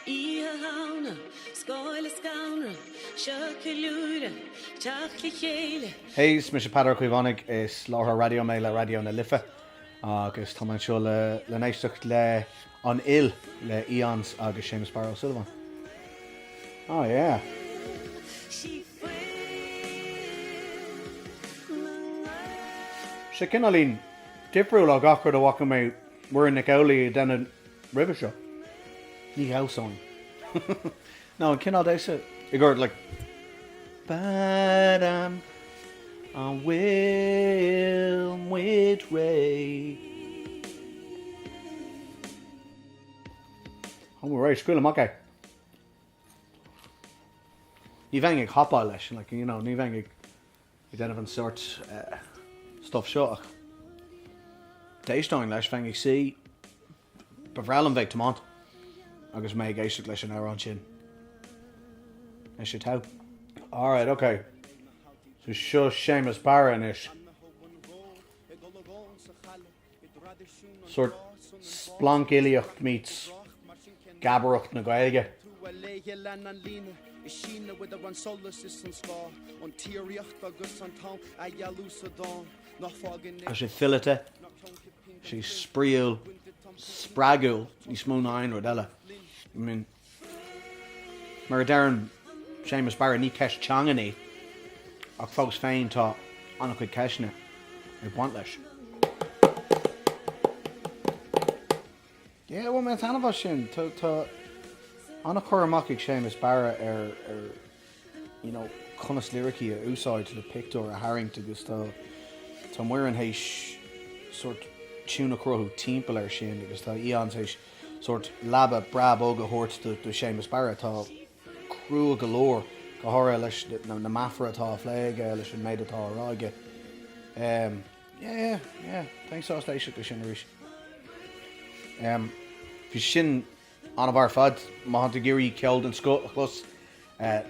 Oíche Shamhna, scáil is scanradh, seo ceiliúradh, teacht le chéile. Hey, is mise Peadar Ó Caomhánaigh, is láithreoir raidió mé le Raidió na Life agus tá mé anseo le n-éisteacht le An Fhuil le Aeons agus Séamus Barra Ó Súilleabháin. Oh yeah. Sé cineáilín difriúil ó gach rud a bhfaca mé Muireann Nic Amhlaoibh ag déanamh roimhe seo. Ní dhamhsóinn. Nó an cineál damhsa i gcomhair like Padam an bhfuil muid réidh? Tá muid réidh, scaoil amach é! Ní bheinn ag hopáil leis like, you know, ní bheinn ag ag déanamh an sórt stuif seo ach d'éisteoinn leis, bheinn ag suí, ba bhreá liom bheith ag tiomáint agus mé ag éisteacht leis an amhrán sin. Is é Tau. Alright, ok. So seo Séamus Barra anois. sórt splancfhilíocht meets geabaireacht na Gaeilge. Tá sé fileata, sé spraíúil, spreagúil, níos mó ná aon rud eile. Mar a deireann Séamus Barra, ní ceist teangan í, ach fós féin tá an-chuid ceisteanna ag baint leis. Yeah, bhain mé taitneamh as sin. Tá an-chur amach ag Séamus Barra ar you know, conas liricí a úsáid le pictiúr a tharraingt agus tá, tá Muireann théis sórt tiún a chruthú timpeall air sin agus tá Aeons théis sórt leaba breá bog a thabhairt do, do Shéamus Barra atá crua go leor, go háirithe leis na, na meafair atá á phlé aige, leis an méid atá á rá aige. Um, yeah, yeah, thanks sás léise go sin arís. Um, Bhí sin an-mhaith ar fad, má thánn tú ag iarraidh ceol den scoth a chlos,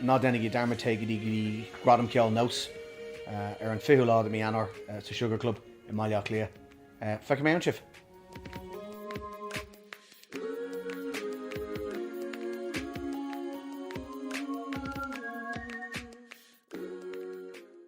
ná déanaigí dearmad, téigh go dtí Gradam Ceoil Nós ar an 20ú lá de mhí Eanáir sa Sugar Club i mBaile Átha Cliath. Feicfidh mé ann sibh!